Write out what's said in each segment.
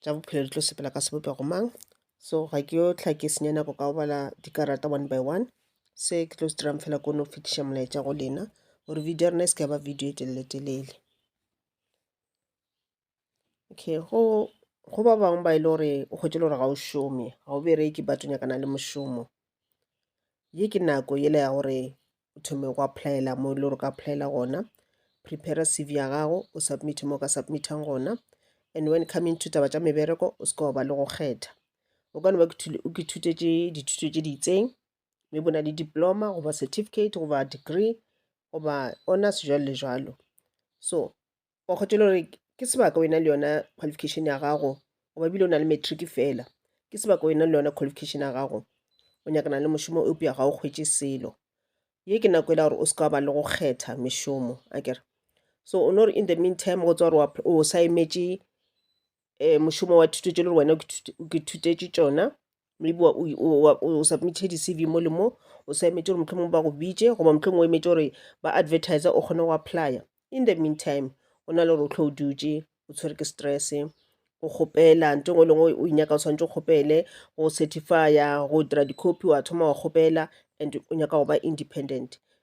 tša bophelo di tlo sepela ka sebopego mang so ga ke yo tlha ke senya nako ka go bala dikarata one by one se ke tlo se dirang fela kono go fetiša molaetša go lena gore video ya rena e se ka ya ba video e telele telele okay go go ba bangwe ba e le gore o kgwetše le gore ga o šome ga o bereke but o nyakana le mošomo ye ke nako yela ya gore o thome go applyela mo e le gore o ka applyela gona prepare cv ya gago o submit mo o ka submitang gona and when coming to taba tša mebereko o seke wa ba le go kgetha o ka no ba o ke thutetše dithuto tše di itseng mme bona le diploma goba certificate goba degree goba honors jalo le jalo so wa kgotelo gore ke sebaka wena le yona qualification ya gago goba bile o na le matric fela ke sebaka wena le yona qualification ya gago o nyakana le mošomo eupša ga o kgwetše selo ye ke nako e la gore o se ka ba le go kgetha mešomo a kere so o no re in the meantime go tswa gore o sa emetše um mošomo wa thuto tše le gore wena ke thutetše tšona maybe o submithe di-cv mo le mo o sa emetse gore mohlomong ba go bitše goba mohlomong o emetse gore ba advertise o kgone go applya in the meantime o na le gore o tlho o dutše o tshwere ke stress go kgopela nto ngwe lengwe o nyaka o tshwanetse o kgopele go certifya go dira dicopy wa thoma wa kgopela and o nyaka go ba independent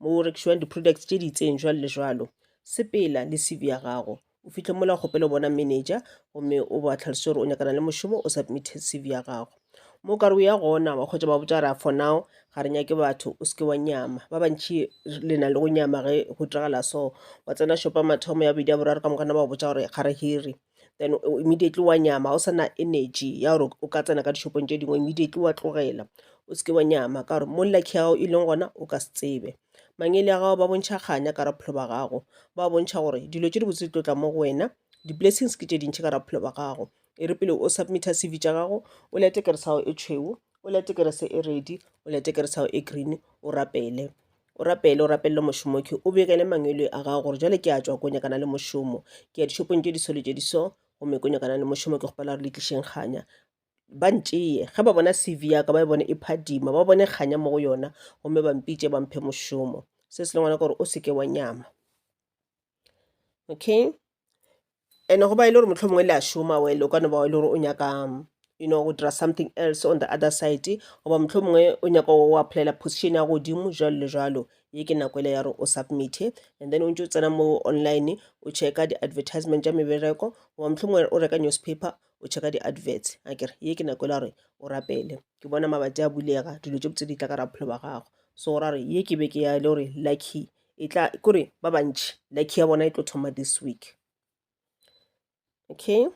mo o rekišwang di-products tše di itseng jwalo le jwalo sepela le cv ya gago o fihle mola kgopelo bona manager gomme o ba tlhalose gore o nyakana le mošomo o submithe cv ya gago mo kare o ya gona wa kgwetsa ba botsa ra for now ga re nyake batho o seke wa nyama ba bantšhi le na le go nyama ge go diragala so wa tsena shopa mathomo ya bedi ya boraro ka mokana ba botsa gore ga re hire then immediately wa nyama o sana energy ya gore o ka tsena ka dishopong tše dingwe immediately wa tlogela o seke wa nyama ka gore mo lucky ya gago e leng gona o ka se tsebe mangele ya gago ba bontšha kganya ka raphelo ba gago ba bontšha gore dilo tše dibotse di tlotla mo go wena di-blessings ke tše dintšhi ka raphelo ba gago e re pele o submita cv tša gago o lete keresago e tšhweu o lete kerese e redi o lete keresago e green o rapele O rapele, o rapelele mošomoki, o begele mangwelwe a gago gore jwale ke a tšwa ko nyakana le mošomo, ke ya dishopong tše disolo tše diso, gomme ko nyakana le mošomo ke kgopela gore le tlišeng kganya. Ba ntšeye, ge ba bona CV yaka ba e bone e phadima, ba bone kganya mo go yona, gomme ba mpitše ba mphe mošomo. Se se le ngwanaka gore o se ke wa nyama. Okay? And-e go ba e le gore mohlomongwe le a šoma well o ka no ba e le gore o nyaka you know go dira something else on the other side goba mohlomongwe o nyaka go applyela position ya godimo jwalo le jwalo ye ke nako ele ya gore o submit-e and then o ntse o tsena mo online o checka di-advertisement tša mebereko goba mohlomongwe o reka newspaper o checka di-adverts a kere ye ke nako ele ya gore o rapele ke bona mabati a bulega dilo tše botse di tla ka ra bophelo ba gago so ra re ye ke beke ya e le gore lucky e tla kore ba bantši like ya bona e tlo thoma this week okay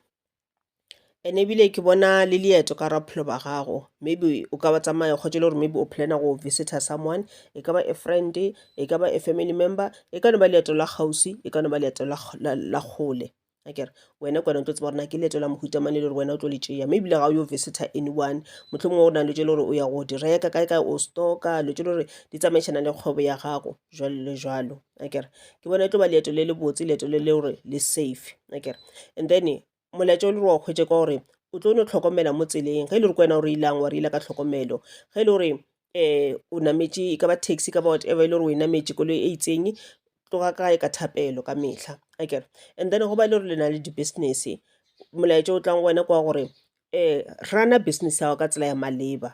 and ebile ke bona le leeto ka ra bophelo ba gago maybe o ka ba tsamaya kgotse le gore maybe o plana go visitor someone e ka ba a friend e ka ba a family member e ka no ba leeto la kgauswi e ka no ba leeto la kgole akere wena kwana o tlo tseba gore na ke leeto la mohuta mane le gore wena o tlo le tšea mme ebile ga o yo visitor anyone motlho mongwe go na le tse le gore o ya go di reka kae kae o stocka lo tse le gore di tsamaišana le kgwebo ya gago jalo le jalo akere ke bona e tlo ba leeto le le botse leeto le le gore le safe akere and then molaetša o le gore wa kgwetse ka gore o tlo no tlhokomela mo tseleng ge e le gore kwena o reilang wa reila ka tlhokomelo ge e le gore um o nametše e ka ba taxi e ka ba whatever e le gore o e nametše koloi e itseng tloga kae ka thapelo ka mehla akere and then go ba e le gore le na le di-business molaetša o tlang go wena ke wa gore um run-a business ya gago ka tsela ya maleba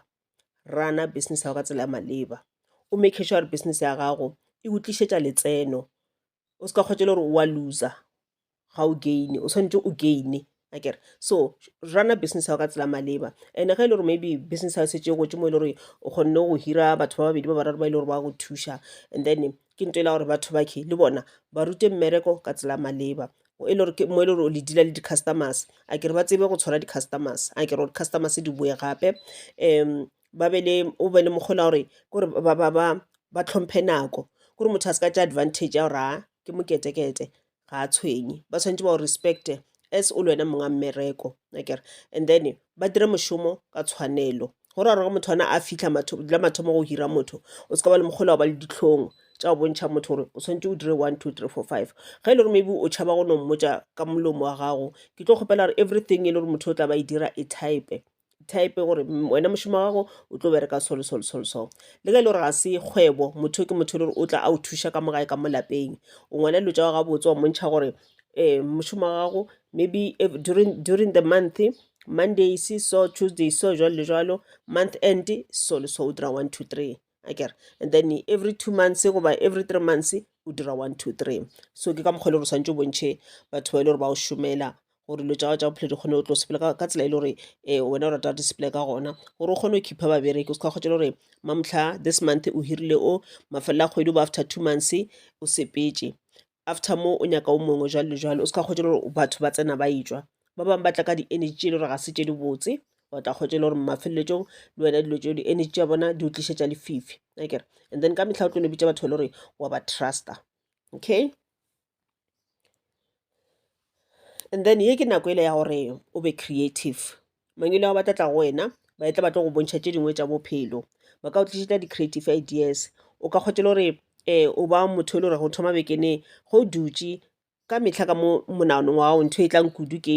run-a business ya gago ka tsela ya maleba o make sure gore business ya gago e go tlišetša letseno o se ka kgwetša le gore o a looser ga o gain o tshwanetse o gaine akere so rana business ya go ka tsela maleba and ge e le gore maybe business ya setse e gotse mo e le gore o kgonne go hira batho ba babedi ba bararo ba e le gore ba go thuša and then ke nto e la gore batho bakhe le bona ba rute mmereko ka tsela maleba mo e le gore o le dila le di-customers a kere ba tsebe go tshwara di-customers a kere di-customers di boe gape um ba be le o be le mokgole wa gore kore ba tlhomphe nako kore motho a se ka tšea advantage ya gore a ke moketekete ga a tshwenye ba tshwanetse ba o respect-e as o le wena monga mmereko akere and then ba dire mošomo ka tshwanelo go ra gore ge motho ona a fitlha la mathomo go hira motho o se ka ba le mokgole wa ba le dihlong tša go bontšha motho gore o tshwanetse o dire one two three four five ge e le gore maybe o tšhaba go no mmotša ka molomo wa gago ke tlo kgopela gore everything e le gore motho o tla ba e dira e type-e type gore wena mošomo wa gago o tlo bereka solo solo solo so le ge e le gore ga se kgwebo motho ke motho le gore o tla a o thuša ka mo gae ka mo lapeng o ngwana dilo tša gago gabotse wa montšha gore um mošomo wa gago maybe during, during the month mondays so tuesday so jalo le jalo month end so le so o dira one two three akere and then every two months goba every three months o dira one two three so ke ka mokgwa e le gore swantse o bontšhe batho ba e le gore ba o šomela gore dilo tsa gago tsa bophelo di kgone go tlo sepele ka tsela e le gore um wena o rata di sepele ka gona gore o kgone go khipha babereki o se ka kgotsa le gore mamotlha this month o hirile o mafelelo a kgwedi ba after two months o sepetse after mo o nyaka o mongwe jwalo le jwalo o se ka kgotse gore batho ba tsena ba etšwa ba bangwe ba tla ka di-energy tše e le gore ga se tše di botse wa tla kgotse e le gore mafeleletsong le wena dilo tseo di-energy tša bona di o tlišetša lefifi akere and then ka mehla o tlo no bitša batho ba le gore wa ba trusta okay and then ye ke nako e le ya gore o be creative Mang e le ao ba tla tla go wena, ba etla ba tlo go bontšha tše dingwe tša bophelo. Ba ka go tlišetša di-creative ideas. O ka kgotha le gore o ba motho e le gorego o thoma beke ne ge o dutše ka mehla ka mo monaganong wa gago ntho e tlang kudu ke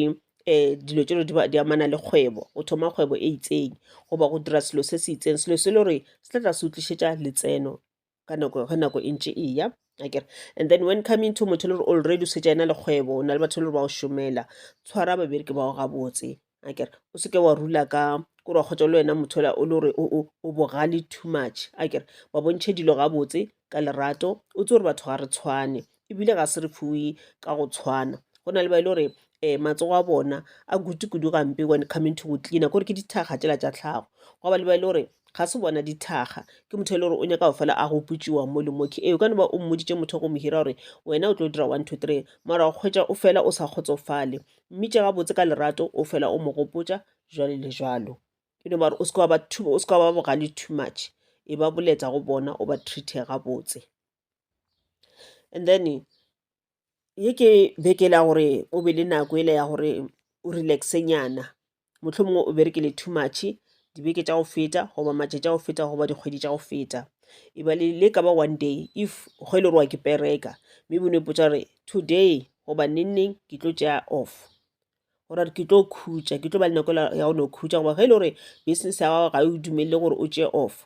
dilo tše le gore di amana le kgwebo. O thoma kgwebo e itseng goba go dira selo se se itseng, selo se le gore se tla tla se go tlišetša letseno. ka nako ge nako e ntše e ya akere and then when coming to motho le gore already o setse ena le kgwebo o na le batho le gore ba o šomela tshwara babereki bao gabotse akere o seke wa rula ka kore wa kgotsa le wena motho ola o le gore o bogale too much akere ba bontšhe dilo gabotse ka lerato o tse gore batho ga re tshwane ebile ga se re fiwe ka go tshwana go na le ba e le gore um matsogo a bona a kutu kudu gampe when coming to go cleaner kore ke dithakga tšela tša tlhago gwa ba le ba e le gore ga se bona dithakga ke motho e le gore o nyaka go fela a gopotšiwa mo le moke ee o ka no ba o mmoditše motho go mo hira gore wena o tlo dira one two three mara go kgwetša o fela o sa kgotsofale mme tše gabotse ka lerato o fela o mo gopotša jwalo le jwalo e no bare o se ka wa ba too- o se ka wa ba bogale too much e ba boletsa go bona o ba treate gabotse and then ye ke beke le ya gore o be le nako ele ya gore o relax-e nyana mohlomongwe o berekile too much dibeke tša go feta goba matšatši a go feta goba dikgwedi tša go feta e ba le le ka ba one day if ge e le gore wa ke pereka maybe o no ipotsa gore today goba neng neng ke tlo tšea off or a re ke tlo khutša ke tlo ba le nako ya go no khutša goba ge e le gore business ya gago ga e o dumelele gore o tšee off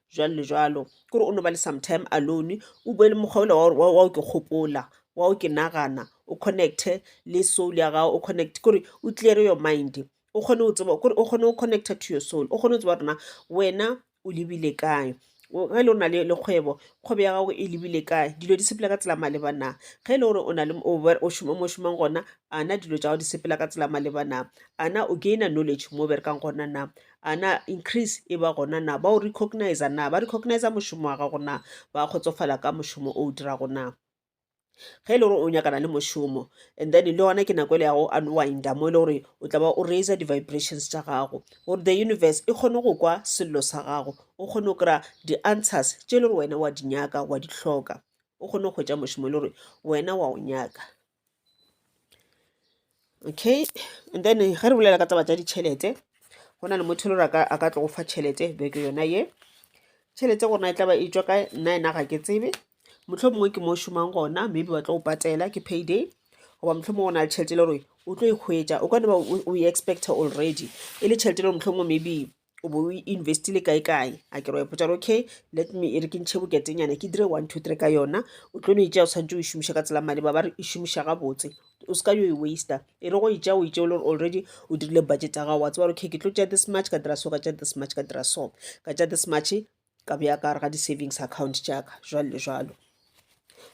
jwalo le jwalo ke gore o no ba le sometime alone o bue le mokgwa ola wa o ke kgopola wa o ke nagana o connecte le soul ya gago o connect kore o clear your mind o kgone o tseba kore o kgone o connecta to your soul o kgone o tseba rona wena o lebile kae ge e le o na le kgwebo kgwebo ya gago e lebile kae dilo di sepela ka tsela maleba na ge e le gore o na le o šoma mo šomang gona ana dilo tša gago di sepela ka tsela maleba na ana o gaina knowledge mo o berekang gona na a na increase e ba gona na, ba o recognize-a na, ba recognize-a mošomo wa gago na, ba kgotsofala ka mošomo o o dirago na. ge e le gore o nyakana le mošomo and then le gona ke nako ele ya go unwinda mo e le gore o tla ba o raise di-vibrations tša gago gore the universe e kgone go kwa sello sa gago o kgone go kry-a di-answers tše e le gore wena wa di nyaka wa di hloka o kgone go hwetša mošomo e le gore wena wa o nyaka okay and then ge re bolela ka taba tša ditšhelete go na le motho e le gore a ka tlogo fa tšhelete beke yona ye tšhelete gorena e tla ba e tšwa ka nna ena ga ke tsebe motlho mongwe ke mo šomang gona maybe ba tlo go patela ke payday goba motlho mongwe o na le tšhelete e le gore o tlo e hwetša o ka ne ba o e expecta already e le tšhelete e le gore motlho mongwe maybe o bo o investile kae kae a ke re wa ipotsa gore okay let me e re ke ntšhe boketenyana ke dire one two three ka yona o tlo no e tšea o tshwanetse o e šomiša ka tsela maleba ba re e šomiša gabotse o se ka yo e waster e re go e tšea o e tšea o le gore already o dirile budget ya gago wa tseba gore okay ke tlo tšea this much ka dira so ka tšea this much ka dira so ka tšea this much ka bea ka gare ga di-savings account jaaka jwalo le jwalo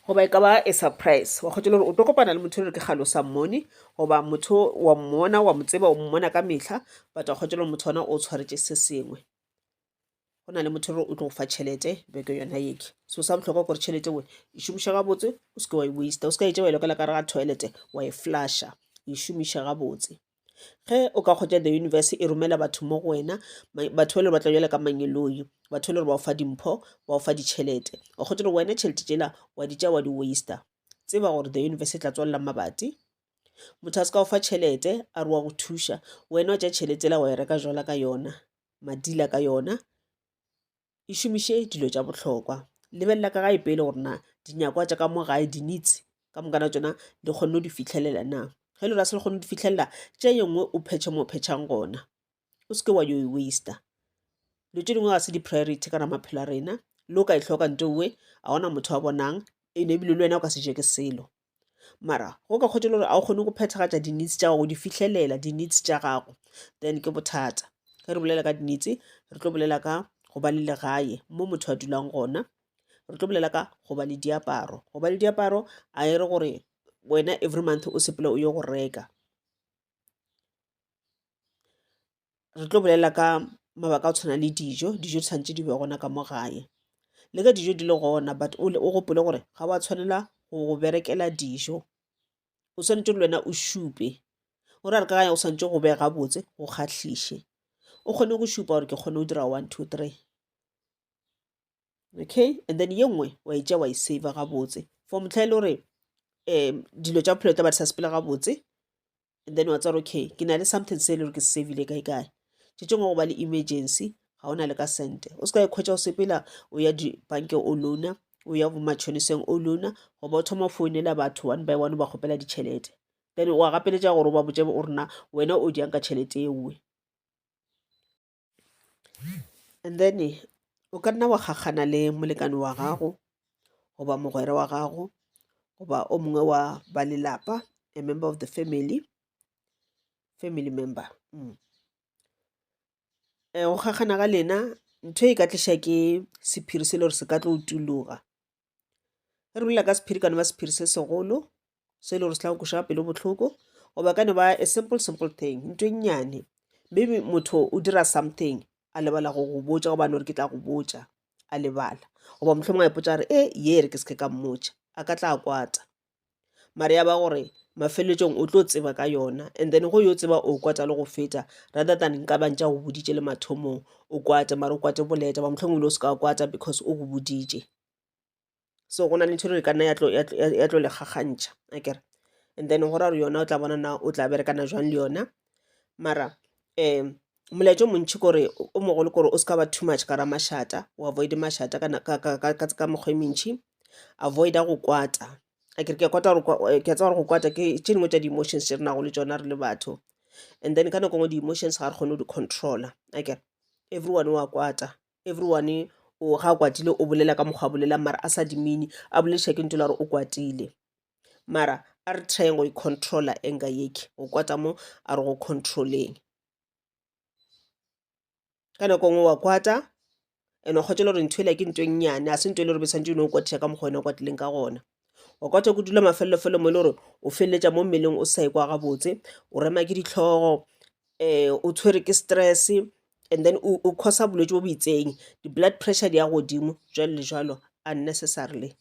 goba e ka ba a surprise wa kgotsa gore o tlo kopana le motho o re ke galo sa mmone goba motho wa mmona wa mo tseba o mmona ka metlha but wa kgotsa gore motho ona o tshwaretse se sengwe go na le motho gore o tlo go fa tšhelete beke yona eke so sa botlhokwa gore tšhelete we e šomiša gabotse o seke wa e waste o seka e tšewa e lokela ka re ga toilet wa e flasha e šomiša gabotse Ge o ka kgotša the universe e romela batho mo go wena, batho ba le ba tla bjale ka mangeloi, batho le gore ba o fa dimpho, ba o fa ditšhelete. O kgotša gore wena tšhelete tšela wa di tša wa di waster. Tseba gore the universe e tla tswalela mabati. Motho a se ka o fa tšhelete a re wa go thuša, wena wa tša tšhelete yela wa e reka jwala ka yona, madila ka yona, e šomiše dilo tša bohlokwa lebelela ka gae pele gore na dinyakwa tša ka mo gae di needs ka mokana tsona di kgonne go di fitlhelela na ge le ra se le kgone go di fitlhelela tše yengwe o phetšhe mo phetšhang gona o seke wa yo e waster dilo tše dingwe ga se di-priority kana maphelo a rena le o ka e tlhoka nto uwe ga gona motho wa bonang ene ebile le wena o ka se je ke selo mara go ka kgotha e le gore ga o kgone go phethagatša di-needs tša gago go di fihlelela di-needs tša gago then ke bothata ge re bolela ka di-needs re tlo bolela ka go ba le legae mo motho a dulang gona re tlo bolela ka go ba le diaparo go ba le diaparo a e re gore wena every month o sepela o ye go reka re tlo bolela ka mabaka a go tshwana le dijo dijo di tshwanetse di be gona ka mo gae le ge dijo di le gona but o gopole gore ga wa tshwanela go go berekela dijo o tshwanetse le wena o šupe o ra re ka o tshwanetse go bega botse go kgahlise o kgone go šupa gore ke kgone go dira one two three okay and then ye nngwe wa e tša wa e saver gabotse for motlha e le gore um dilo tša bophelo tla ba di sa sepela gabotse and then wa tswara okay ke na le something se e le gore ke se savile kae kae tšetšengwe go ba le emergency ga o na le ka sente o se ka ekhwetša o sepela o ya dibankeng o lona o ya bomatšhoniseng o lona goba o thoma founela batho one by one ba kgopela ditšhelete then wa gapeletša gore o ba botse o rena wena o diang ka tšhelete ewe And then o ka nna wa kgakgana le molekane wa gago goba mogwera wa gago goba o mongwe wa ba lelapa a member of the family family member mm. Eh, go kgakgana ga lena ntho e ka tliša ke sephiri se le gore se ka tlo tuloga re bolela ka sephiri e ka no ba sephiri se segolo se e le gore se tla go kweša pelo bohloko goba e ka no ba a simple simple thing nto e nnyane maybe motho o dira something a lebala go go botša gobane gore ke tla go botša a lebala goba mohlomongwe a ipotsa gore e ye re ke se ke ka mmotša a ka tla kwata. mare ya ba gore mafeleletsong o tlo tseba ka yona and then go yo tseba o kwata le go feta rather than nka bantša go boditše le mathomong o kwate mare o kwate boleta ba mohlomong le o se ka kwata because o go boditše so go na le ntho e le gore ka nna ya tlo le kgakgantšha a kere and then go ra gore yona o tla bona na o tla berekana jwang le yona mara um molaetša o montši kore o mogolo kore o se ka ba too much gara mašata o avoide mašata ka na- ka- ka- ka- ka- ka mekgwa e mentši avoida go kwata a kere ke a kwata gore kwa- eh, ke a tseba gore go kwata ke tše dingwe tša di-emotions tše re nago le tšona re le batho and then ka nako ngwe di-emotions ga re kgone go di-controla a kere everyone wa kwata everyone o ga a kwatile o bolela ka mokgwa a bolelang mara a sa dimine a bolediša ke ntho la gore o kwatile mara a re tryeng go e-controla anger yeke go kwata mo a re go controleng ka nako nngwe wa kwata and wa kgotsa le gore ntho ela ke nto e nnyane a se nto e le gore be tshwanetse o ne o kwatisa ka mokgwa wena o kwatileng ka gona wa kwata go dula mafelelofelo mo e le gore o feleletša mo mmeleng o sa e kwa gabotse o rema ke ditlhogo um o tshwere ke stress and then o o causa bolwetse bo bo itseng di-blood pressure di ya godimo jwalo le jwalo unnecessarily.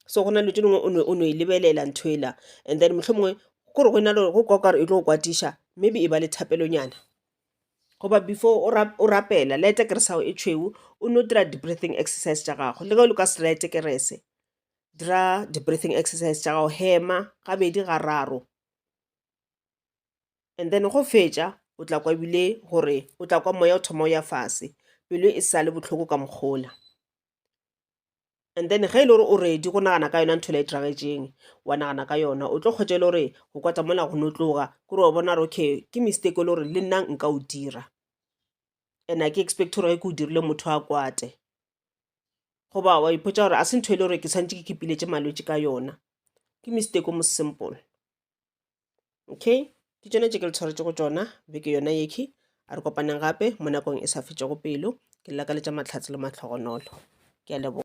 so gona dilo tše dingwe o no e lebelela ntho e la and then mohlomongwe kore go na le go kwa okare e tlo go kwatiša maybe e ba le thapelonyana goba before o rapela light-a kerese ya gago e tšhweu o no dira di-breathing exercise tša gago le ge o le ka se light-e kerese dira di-breathing exercise tša gago hema gabedi gararo and then ge o fetša o tla kwa ebile gore o tla kwa moya o thoma o ya fase pelo e sa le bohloko ka mokgwa ola. and then ge e le gore o ready go nagana ka yona nthole e diragetšeng wa nagana ka yona o tlo kgwetša e le gore go kwata mola go no tloga kore wa bona gore okay ke mistake e le gore le nna nka o dira and a ke expect gore ge ke o dirile motho a kwate goba wa ipotsa gore a se ntho e le gore ke tshwanetse ke ke piletše malwetse ka yona ke mistake o mo simple okay ke tšone tše ke le tshwaretše go tšona beke yona yekhi a re kopaneng gape mo nakong e sa fetšego pelo ke lakaletša matlhatse le mahlogonolo ke a leboga